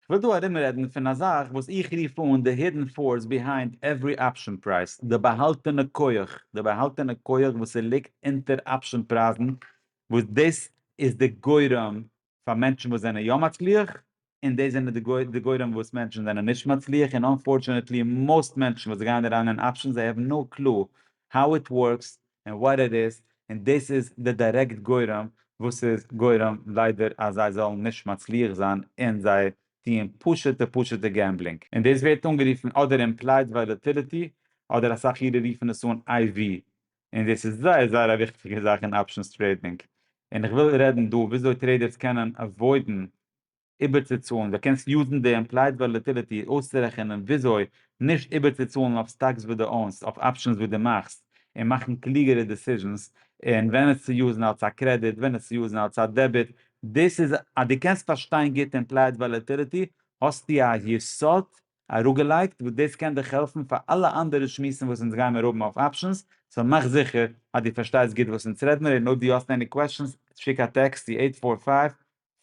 כ'וויל דא ארומרעדן פון א זאך וואס איך רוף אן די הידען פארס ביהיינד עווערי אפשען פרייז, די באהאלטענע כח, די באהאלטענע כח וואס ס'ליגט אונטער אפשען פרייזן, וואס דאס איז די גורם פאר מענטשן וואס זענען יא מצליח, און דאס זענען די גורם וואס מענטשן זענען נישט מצליח, און אנפארטשענעטלי מאסט מענטשן וואס גייען אריין אין אפשען זיי העוו נאו קלו האו איט ווארקס, און וואט איט איז, און דאס איז די דירעקט גורם וואס איז גורם ליידער אז זיי זאלן נישט מצליח זיין און זיי טוען פשוטע פשוטע געמבלינג, און דאס ווערט אנגערופן אדער אימפלייד וואלעטיליטי אדער אסאך אירע רופן עס אן אייווי, און דאס איז זייער זייער א וויכטיגע זאך אין אפשענס טרעידינג, און איך וויל רעדן דא וויאזוי טרעידערס קענען עוואוידן איבערצוצאלן, דו קענסט יוזן די אימפלייד וואלעטיליטי אויסצורעכענען וויאזוי נישט איבערצוצאלן אויף סטאקס וואס דו אונסט, אויף אפשענס וואס דו מאכסט, און מאכן קלוגערע דעסיזשענס, און ווען עס צו יוזן אלס א קרעדיט, ווען עס צו יוזן אלס א דעביט, דאס איז אז דו קענסט פארשטיין גוט אימפלייד וואלעטיליטי, האסטו א יסוד אראפגעלייגט וואס דאס קען דיך העלפן פאר אלע אנדערע שמועסן וואס אונז גיימיר האבן אויף אפשענס, סאו מאך זיכער אז דו פארשטייסט גוט וואס אונז רעדמיר, און אויב דו האסט עני קוועשאנס שיק א טעקסט צו עיט פאר פייוו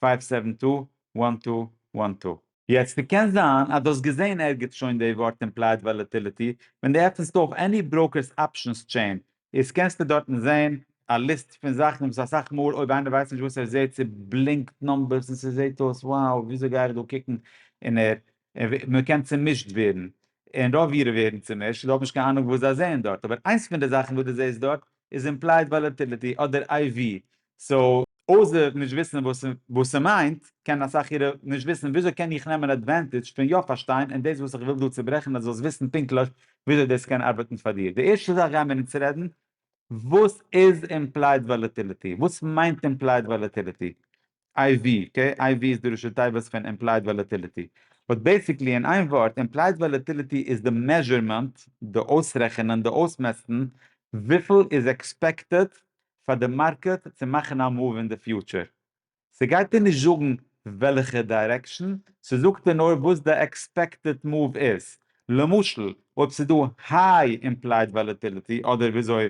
פייוו סעווען טו וואן טו וואן טו. יעצט ס'קען זיין אז דו האסט געזעהן ערגעץ שוין די ווארט אימפלייד וואלעטיליטי, ווען דו עפענסט אויף עני בראוקערס אפשענס טשעין איז קענסטו דארטן זעהן א ליסט פון זאכן וואס אסאך מאל אויב איינער ווייסט נישט וואס ער זעהט ס'בלינקט נומבערס און ס'זעהט אויס wow וויאזוי גיי איך דא קוקן און ער מ'קען צומישט ווערן און רוב אירע ווערן צומישט זיי האבן נישט קיין אנונג וואס זיי זעהן דארט אבער איינס פון די זאכן וואס דו זעהסט דארט איז אימפלייד וואלעטיליטי אדער איי ווי סאו אויסער נישט וויסן וואס ס'מיינט, קענען אסאך אירע נישט וויסן וויאזוי קען איך נעמען אדווענטעדזש פון יא פארשטיין, און דאס וואס איך וויל דא צוברעכן אז דו זאלסט וויסן פונקטליך וויאזוי דאס קען ארבעטן פאר דיר. די ערשטע זאך גיימיר אונז רעדן וואס איז אימפלייד וואלעטיליטי, וואס מיינט אימפלייד וואלעטיליטי, IV, אקעי, IV איז די ראשי תיבות פון אימפלייד וואלעטיליטי, באט בעיסיקלי אין איין ווארט, אימפלייד וואלעטיליטי איז די מעזשערמענט, די אויסרעכענען, די אויסמעסטן, וויפיל איז עקספעקטעד פאר די מארקעט צו מאכן א מאוו אין די פיוטשער. ס'גייט דיר נישט זאגן וועלכע דיירעקשאן, ס'זאגט דיר נאר וואס די עקספעקטעד מאוו איז. למשל אויב ס'איז דא היי אימפלייד וואלעטיליטי אדער וויאזוי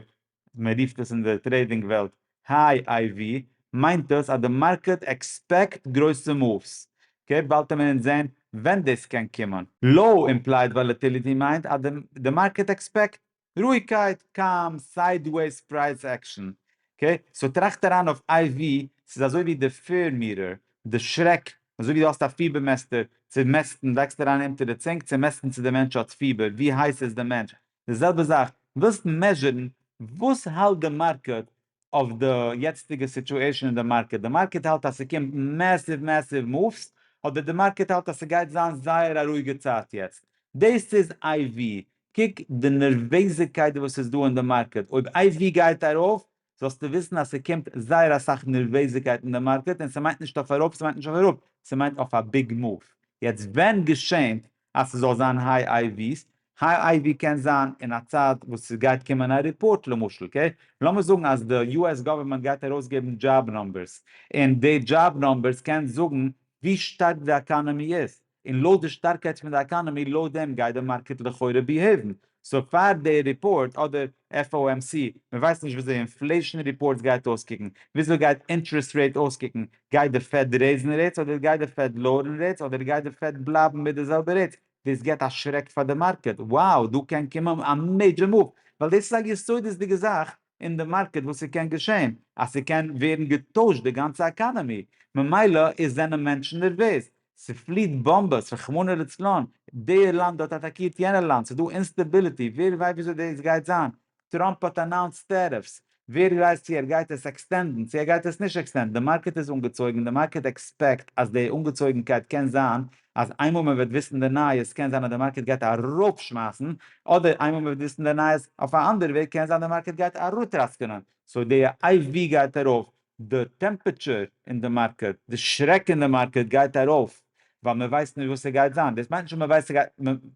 מ'רופט עס אין די טרעידינג וועלט היי איי ווי, מיינט דאס אז די מארקעט עקספעקט גרויסע מאווס. אקעי, באלד טאר מען אונז זעהן ווען דאס קען קומען. לאו אימפלייד וואלעטיליטי מיינט אז די מארקעט עקספעקט רואיגקייט קאם סיידוועיס פרייז עקשאן אקעי סאו טראכט אריין אויף איי ווי ס'איז אזוי ווי די פיר מירער די שרעק אזוי ווי די האסט א פיבער מעסטער צו מעסטן לייגסט אריין אונטער די צונג צו מעסטן צו די מענטש האט פיבער ווי הייס איז די מענטש די זעלבע זאך ווילסט מעזשערן וואס האלט די מארקעט אויף די יעצטיגע סיטועשען אין די מארקעט, די מארקעט האלט אז ס'קומט מעסיוו מעסיוו מאווס, אדער די מארקעט האלט אז ס'גייט זיין זייער א רואיגע צייט יעצט, דאס איז איי ווי, קוק די נערוועזיגקייט וואס איז דא אין די מארקעט, אויב איי ווי גייט ארויף זאלסטו וויסן אז ס'קומט זייער אסאך נערוועזיגקייט אין די מארקעט, און ס'מיינט נישט אויף ארויף ס'מיינט נישט אויף אראפ, ס'מיינט אויף א ביג מאוו, יעצט ווען געשענט אז ס'זאל זיין היי איי וויסט, היי איי ווי קען זיין אין א צייט וואס ס'גייט קומען א ריפארט למשל קעי לאמיר זאגן אז די יו עס גאווערמענט גייט ארויסגעבן דזשאב נומבערס און די דזשאב נומבערס קען זאגן ווי שטארק די עקאנעמי איז און לויט די שטארקייט פון די עקאנעמי לויט דעם גייט די מארקעט לכאורה ביהעיוון סאו פאר די ריפארט אדער FOMC, מען ווייסט נישט וויאזוי אינפלעישן ריפארטס גייט אויסקוקן, וויאזוי גייט אינטערעסט רעיט אויסקוקן, גייט די פעד רעיזן רעיטס אדער גייט די פעד לאוערן רעיטס אדער גייט די פעד בלייבן מיט די זעלבע רעיטס, דאס געבט א שרעק פאר די מארקעט, wow דא קען קומען א מעידזשער מאוו, ווייל דאס איז א יסודות'דיגע זאך אין די מארקעט וואס ס'קען געשען אז ס'קען ווערן געטוישט די גאנצע עקאנעמי, ממילא איז זענען מענטשן נערוועז, ס'פליעט באמבעס, רחמנא לצלן, דער לאנד האט אטאקירט יענער לאנד, ס'איז דא אינסטעביליטי, ווער ווייסט וויאזוי דאס גייט זיין, טראמפ האט אנאונסט טעריפס, ווער ווייסט צו ער גייט עס עקסטענדן, צו ער גייט עס נישט עקסטענדן, די מארקעט איז אנגעצויגן, די מארקעט עקספעקט אז די אנגעצויגנקייט קען זיין אז איינמאל מען וועט וויסן די נייעס קען זיין אז די מארקעט גייט ארויף שמייסן, אדער איינמאל מען וועט וויסן די נייעס אויף א אנדערע וועג קען זיין די מארקעט גייט אראטראסקענען, סאו די איי ווי גייט ארויף, די טעמפעטשור אין די מארקעט, די שרעק אין די מארקעט גייט ארויף, ווייל מען ווייסט נישט וואס ס'גייט זיין, דאס מיינט נישט אז מען ווייסט ס'גייט,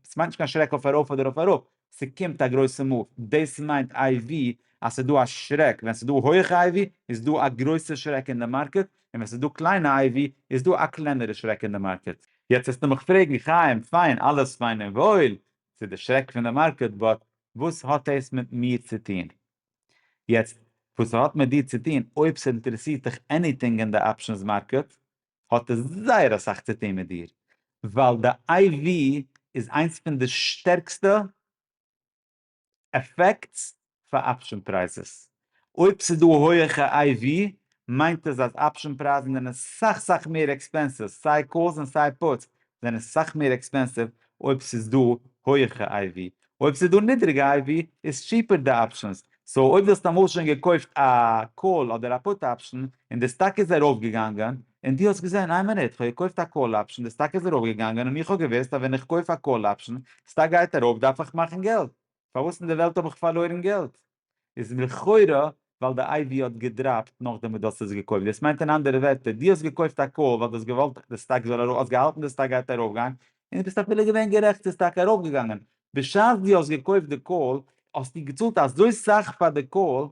ס'מיינט נישט קיין שרעק אויף ארויף אדער אויף אראפ, ס'קומט א גרויסע מאוו, דאס מיינט איי ווי אז ס'איז דא א שרעק, ווען ס'איז דא הויעכע איי ווי איז דא א גרויסע שרעק אין די מארקעט, און ווען ס'איז דא קליינע איי ווי איז דא א קלענערע שרעק אין די מארקעט. יעצט וועסטו מיך פרעגן, חיים, פיין, אלעס פיין און וואויל, ס'איז די שרעק פון די מארקעט, באט וואס האט דאס מיט מיר צו טון? יעצט, וואס ס'האט מיט דיר צו טון, אויב ס'אינטערעסירט דיך עניטינג אין די אפשענס מארקעט, האט עס זייער אסאך צו טוהן מיט דיר, ווייל די IV איז איינס פון די שטערקסטע עפעקטס פאר אפשען פרייזעס, אויב ס'איז דא הויעכע IV מיינט עס אז אפשען פרייזן זענען סאך סאך מער עקספענסיוו, סיי קאלס און סיי פוטס זענען סאך מער עקספענסיוו אויב ס'איז דא הויעכע IV, אויב ס'איז דא נידריגע איי ווי איז טשיפער די אפשענס, סאו אויב דו האסט אמאל שוין געקויפט א קאל אדער א פוט אפשען און די סטאק איז ארויף געגאנגען און דו האסט געזען איי מינוט כ'האב געקויפט א קאל אפשען די סטאק איז ארויף געגאנגען און איך האב געוויסט אז ווען איך קויף א קאל אפשען סטאק גייט ארויף דארף איך מאכן געלט פארוואס אין די וועלט האב איך פארלוירן געלט? איז לכאורה ווייל די איי ווי האט געדראפט נאכדעם וואס דו האסט עס געקויפט, דאס מיינט אין אנדערע ווערטער דו האסט געקויפט א קאל ווייל דו האסט געוואלט די סטאק זאל ארויף, האסט געהאלטן די סטאק גייט ארויפגיין, און דו ביסט אפילו געווען גערעכט ס'איז טאקע ארויפגעגאנגען, בשעת דו האסט געקויפט די קאל האסטו געצאלט אזוי סאך פאר די קאל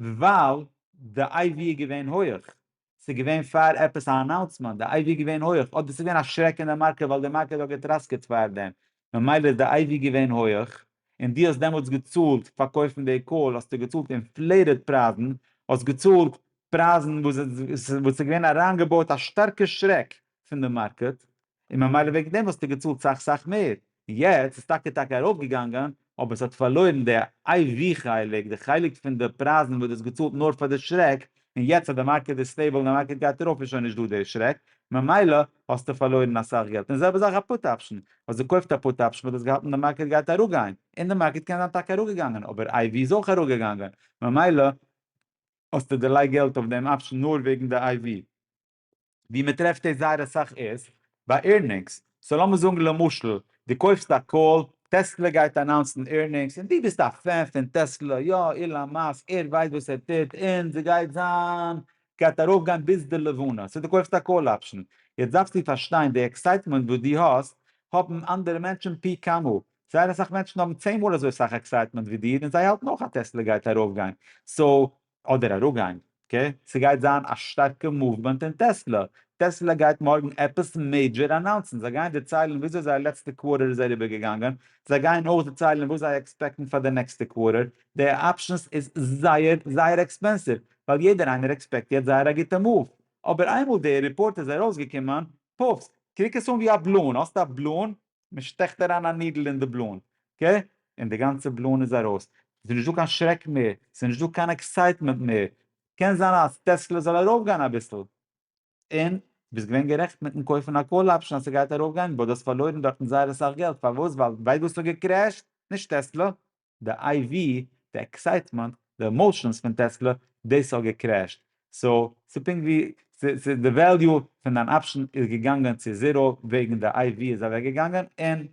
ווייל די איי ווי איז געווען הויעך, ס'איז געווען פאר עפעס א אנאונסמענט? די אייווי געווען הויעך? אדער ס'איז געווען א שרעק אין די מארקעט ווייל די מארקעט האט געטראסקעט פארדעם? ממילא איז די אייווי געווען הויעך, און דו האסט דעמאלטס געצאלט פאר קויפן די קאל האסטו געצאלט אינפלעיטעד פרייזן, האסט געצאלט פרייזן וואס ס'איז געווען אריינגעבויט א שטארקע שרעק פון די מארקעט, און ממילא וועגן דעם האסטו געצאלט סאך סאך מער, און יעצט איז טאקע טאקע ארויף געגאנגען, אבער עס האט פארלוירן די איי ווי חלק, די חלק פון די פרייזן וואס דו האסט געצאלט נאר פאר די שרעק, און יעצט אז די מארקעט איז סטעיבל און די מארקעט גייט ארויף איז שוין נישט דא די שרעק, ממילא האסטו פארלוירן אסאך געלט, און די זעלבע זאך א פוט אפשן, האסט געקויפט א פוט אפשן וואס האט געהאלטן די מארקעט גייט אראפגיין, און די מארקעט קען זיין טאקע אראפגעגאנגען, אבער איי ווי איז אויך אראפגעגאנגען, ממילא האסטו דערלייגט געלט אויף דעם אפשן נאר וועגן די איי ווי. ווי מען טרעפט עס זייער אסאך איז ביי עירנינגס, סאו לאמיר זאגן למשל דו קויפסט א קאל, טעסלע גייט אנאונסן עירנינגס און דו ביסט א פען פון טעסלע, יא אילאן מאסק ער ווייסט וואס ער טוט און ס'גייט זיין גייט ארויפגיין ביז די לבנה, סאו דו קויפסט א קאל אפשן, יעצט דארפסטו פארשטיין די עקסייטמענט וואס דו האסט האבן אנדערע מענטשן פי כמה, זייער אסאך מענטשן האבן צען מאל אזוי סאך עקסייטמענט ווי דיר און זיי האלטן אויך אז טעסלע גייט ארויפגיין, סאו אדער א ראגאנג ק, ס'גייט זיין א שטארקע מאוומענט אין טעסלא, טעסלא גייט מארגן עפעס מעידזשער אנאונסן, זיי גייען דערציילן וויאזוי זייער לעצטע קווארטער איז אריבער געגאנגען, זיי גייען אויך דערציילן וואס זיי עקספעקטן פאר די נעקסטע קווארטער, די אפשענס איז זייער זייער עקספענסיוו, ווייל יעדער איינער עקספעקט יעצט זייער א גוטע מאוו, אבער איינמאל די ריפארט איז ארויסגעקומען, פוף, קוק עס אן ווי א בלון, האסט א בלון, מען שטעכט אריין א נידל אין די בלון, ק, און די גאנצע בלון איז ארויס, ס'איז נישט דא קיין שרעק מער, ס'איז נישט דא קיין עקסייטמענט מער, קען זיין אז טעסלע זאל ארויפגיין אביסל, און ביסט געווען גערעכט מיטן קויפן א קאל אפשן אז ס'גייט ארויפגיין, באט דו האסט פארלוירן דארטן זייער אסאך געלט, פארוואס? ווייל ווייסט וואס האט געקרעשט? נישט טעסלע. די איי ווי, די עקסייטמענט, די עמאושענס פון טעסלע, דאס האט געקרעשט, סאו ס'איז פונקט ווי ס'איז די וועליו פון דיין אפשן איז געגאנגען צו זירא וועגן די איי ווי איז אוועק געגאנגען און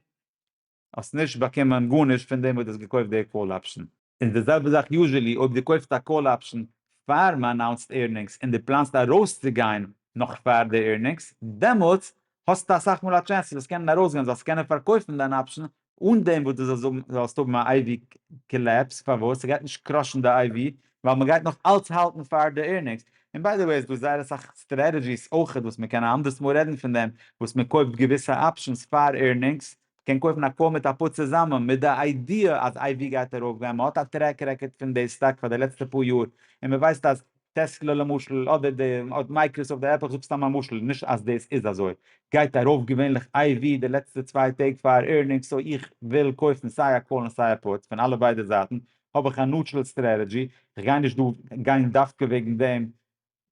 האסט נישט באקומען גארנישט פון דעם וואס דו האסט געקויפט די קאל אפשן. איז די זעלבע זאך יוזשעלי אויב דו קויפסט א קאל אפשן פאר מ'אנאונסט עירנינגס און דו פלאנסט ארויסצוגיין נאך פאר די עירנינגס, דעמאלטס האסטו אסאך מאל א טשענס אז עס קענען ארויסגיין, זאלסט קענען פארקויפן דיין אפשן אן דעם וואס דו זאלסט האבן א IV קאלעפס, פארוואס? ס'גייט נישט קראשן די IV ווייל מ'גייט נאך אלץ האלטן פאר די עירנינגס. און ביי די וועי איז דא זייער אסאך סטרעטעדזשיס אויכעט וואס מ'קען א אנדערס מאל רעדן פון דעם, וואס מ'קויפט געוויסע אפשענס פאר עירנינגס, מ'קען קויפן א קאר מיט א פוד צוזאמען מיט די איידיע אז IV גייט ארויפגיין, מ'האט א טרעק רעקארד פון די סטאק פאר די לעצטע פאר יאר און מ'ווייסט אז טעסלע למשל אדער די מייקראסאפט די עפל כ'זאג סתם א משל נישט אז דאס איז אזוי גייט ארויף געווענליך איי ווי די לעצטע צוויי טעג פאר עירנינגס סאו איך וויל קויפן סיי א קאל און סיי א פוט פון אלע ביידע זייטן האב איך א נוטשרעל סטרעטעדזשי כ'גיי נישט דא גיין דווקא וועגן דעם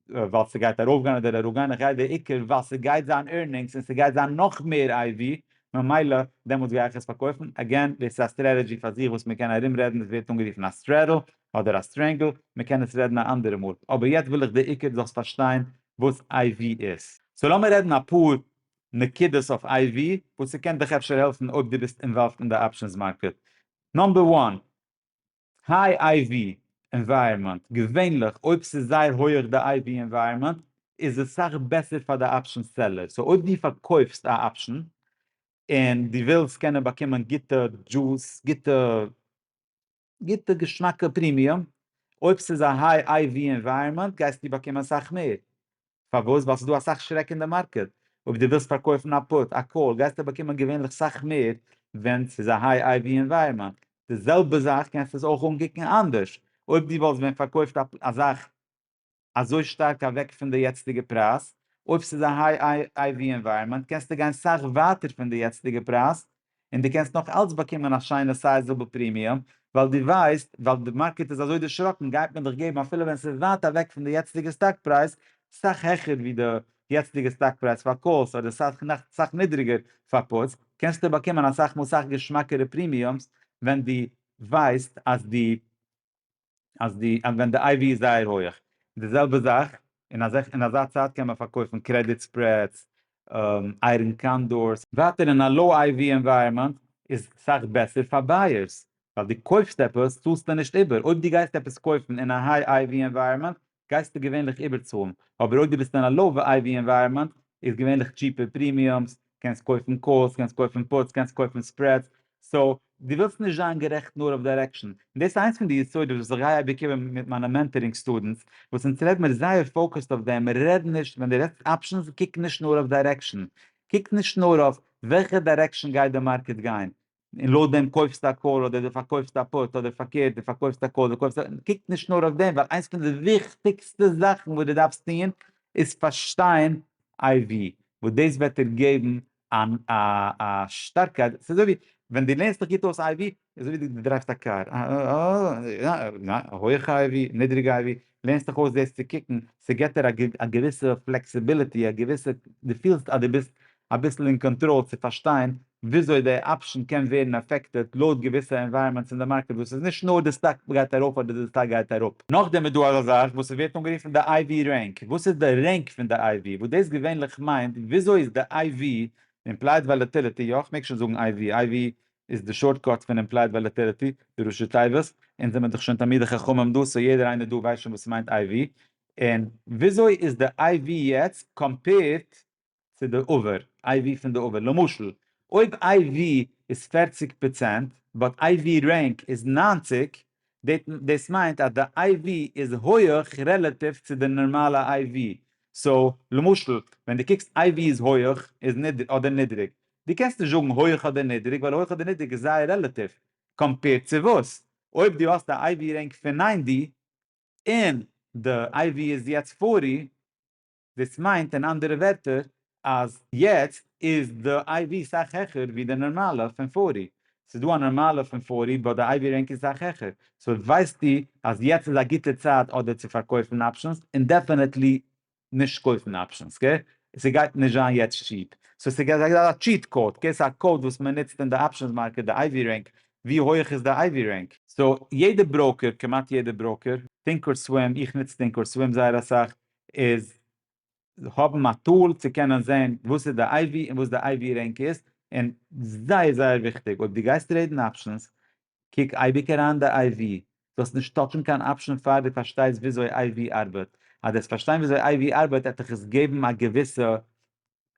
ווייל ס'גייט ארויף גיין אדער אראפ גיין איך גיי די עיקר ווייל ס'גייט זיין עירנינגס און ס'גייט זיין נאך מער איי ווי ממילא דעמאלטס גיי איך עס פארקויפן עגעין דאס איז א סטרעטעדזשי פאר זיך וואס מ'קען ארומרעדן דאס ווערט אנגערופן א סטרעדל אדער א סטרענגל, מען קען עס רעדן א אנדערע מאל, אבער יעצט וויל איך די עיקר די זאלסט פארשטיין וואס איי ווי איז. סאו לאמיר רעדן אפאר נקודות אויף איי ווי וואס ס'קען דיך אפשר העלפן אויב דו ביסט אינוואלווד אין די אפשענס מארקעט. נאמבער וואן, היי איי ווי ענווייראמענט, געווענליך אויב ס'איז זייער הויעך די איי ווי ענווייראמענט איז עס סאך בעסער פאר די אפשענס סעלער, סאו אויב דו פארקויפסט א אפשען און דו ווילסט קענען באקומען גוטע דזשוס, גוטע. גוטע געשמאקע פרימיום, אויב ס'איז א היי איי ווי ענווייראמענט גייסטו באקומען אסאך מער, פארוואס? ווייל ס'דא אסאך שרעק אין די מארקעט, אויב דו ווילסט פארקויפן א פוט, א קאל, גייסטו באקומען געווענליך סאך מער ווען ס'איז א היי איי ווי ענווייראמענט, די זעלבע זאך קענסטו עס אויך אנקוקן אנדערש, אויב דו וואלסט ווען פארקויפט א זאך אזוי שטארק אוועק פון די יעצטיגע פרייז, אויב ס'איז א היי איי ווי ענווייראמענט קענסטו גיין סאך ווייטער פון די יעצטיגע פרייז, און דו קענסט נאך אלץ באקומען א שיינע סייזעבל פרימיום, ווייל דו ווייסט, ווייל די מארקעט איז אזוי דערשראקן גייט מען דיך געבן אפילו ווען ס'איז ווייט אוועק פון די יעצטיגע סטאק פרייז, סאך העכער ווי די יעצטיגע סטאק פרייז פאר קאלס אדער סאך נידריגער פאר פוטס, קענסטו באקומען אסאך מאל סאך געשמאקערע פרימיומס ווען דו ווייסט אז דו אז די אז ווען די איי ווי איז זייער הויעך און די זעלבע זאך אין אזא אין אזא צייט קען מען פארקויפן קרעדיט ספרעדס איירען קאנדארס. ווייטער אין א לאו איי ווי ענווייראמענט איז סאך בעסער פאר בייערס ווייל די קויפסט עפעס צאלסטו נישט איבער אויב די גייסט עפעס קויפן אין א היי איי ווי ענווייראמענט גייסטו געווענליך איבערצאלן, אבער אויב דו ביסט אין א לאו וועיוו ענווייראמענט איז געווענליך טשיפער פרימיומס, קענסט קויפן קאלס, קענסט קויפן פוטס, קענסט קויפן ספרעדס, סאו, דו ווילסט נישט זיין גערעכט נאר אויף דירעקשאן, און דאס איז איינס פון די יסודות וואס איך גיי אייביג איבער מיט מיינע מענטארינג סטודענטס, וואס אונז רעד מיר זייער פאוקעסד אויף דעם, רעד נישט, ווען דו רעדסט אפשענס קוק נישט נאר אויף דירעקשאן, קוק נישט נאר אויף וועלכע דירעקשאן גייט די מארקעט גיין, און לויט דעם קויפסטו א קול אדער די פארקויפסט א פאות אדער פארקערט די פארקויפסט א קול די קויפסט א קוק נישט נאר אויף דעם ווייל איינס פון די וויכטיגסטע זאכן וואס די דארפסט טוהן איז פארשטיין איי ווי וואס דאס וועט דיר געבן אן א א שטארקייט ס'איז אזוי ווי ווען די לערנסט דיך גוט אויס איי ווי איז אזוי ווי די דרייווסט א קאר הויעכע איי ווי נידריגע איי ווי לערנסט דיך אויס דאס צו קוקן, ס'געט דיר א געוויסע פלעקסיביליטי, א געוויסע, דו פילסט אז דו ביסט אביסל אין קאנטראל צו פארשטיין וויאזוי די אפשען קען ווערן אפעקטעד לויט געוויסע ענווייראמענטס אין די מארקעט וואס איז נישט נאר די סטאק גייט ארויף אדער די סטאק גייט אראפ. נאכדעם איז דא אזא זאך וואס ס'ווערט אנגערופן די IV רענק, וואס איז די רענק פון די IV, וואס דאס געווענליך מיינט וויאזוי איז די IV, אימפלייד וואלעטיליטי, יא, כ'מעג שוין זאגן IV, IV איז די שארטקאט פון אימפלייד וואלעטעליטי די ראשי תיבות, אונז זעמיר דאך שוין תלמידי חכמים דא סאו יעדער איינער דא ווייסט שוין וואס מיינט iv, און וויאזוי איז די iv יעצט קאמפעירט צו די עבר, iv פון די עבר, למשל אויב iv איז פֿערציק פראצענט באט iv רענק איז נײַנציק, דאס מיינט אז די איי ווי איז הויעך רעלעטיוו צו די נארמאלע איי ווי, סאו למשל ווען דו קוקסט איי ווי איז הויעך איז נידריג אדער נידריג, דו קענסט נישט זאגן הויעך אדער נידריג ווייל הויעך אדער נידריג איז זייער רעלעטיוו, קאמפעירד צו וואס? אויב דו האסט א איי ווי רענק פון נײַנטי און די איי ווי איז יעצט פֿאָרטי, דאס מיינט אין אנדערע ווערטער אז יעצט איז די IV סאך העכער ווי די נארמאלע פון פארי, ס'איז דא א נארמאלע פון פארי באט די IV רענק איז סאך העכער, סאו ווייסטו אז יעצט איז א גוטע צייט אדער צו פארקויפן אפשענס און דעפענעטלי נישט קויפן אפשענס קע, ס'גייט נישט זיין יעצט טשיעפ, סאו ס'איז געווען א טשיעט קאוד קע, ס'איז א קאוד וואס מען נוצט אין די אפשענס מארקעט די IV רענק, ווי הויעך איז די IV רענק. סאו יעדע בראוקער, כמעט יעדע בראוקער, טינקאר סווים, איך נוץ טינקאר סווים זייער אסאך, איז האבן א טול צו קענען זעהן וואס איז די אייווי און וואס די אייווי רענק איז, און זייער זייער וויכטיג אויב דו גייסט רעדן אפשענס קוק אייביג אריין די אייווי, זאלסט נישט טאטשן קיין אפשען פאר דו פארשטייסט וויאזוי אייווי ארבעט, אז דו וועסט פארשטיין וויאזוי אייווי ארבעט וועט דיך עס געבן א געוויסע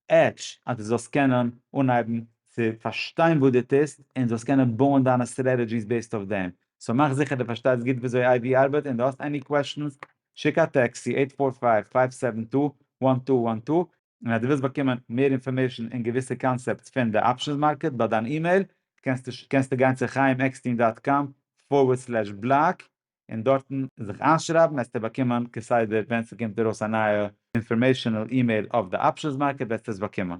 עטש אז דו זאלסט קענען אנהייבן צו פארשטיין וואס דו טוסט און זאלסט קענען בויען דיינע סטרעטעדזשיס בעיסד אויף דעם, סאו מאך זיכער דו פארשטייסט גוט וויאזוי איי ווי ארבעט און דו האסט עני קוועשאנס שיק א טעקסט צו עיט פאר פייוו פייוו סעווען טו וואן טו וואן טו, און אז דו ווילסט באקומען מער אינפארמעישאן און געוויסע קאנצעפטס פון די אפשענס מארקעט ביי דיין אימעיל קענסטו קענסטו גיין צו חיים עקסטין דאט קאם פארווערד סלעש בלאג און דארטן זיך איינשרייבן העסטו באקומען כסדר ווען ס'קומט ארויס א נייע אינפארמעישאנעל אימעיל אויף די אפשענס מארקעט וועסטו עס באקומען.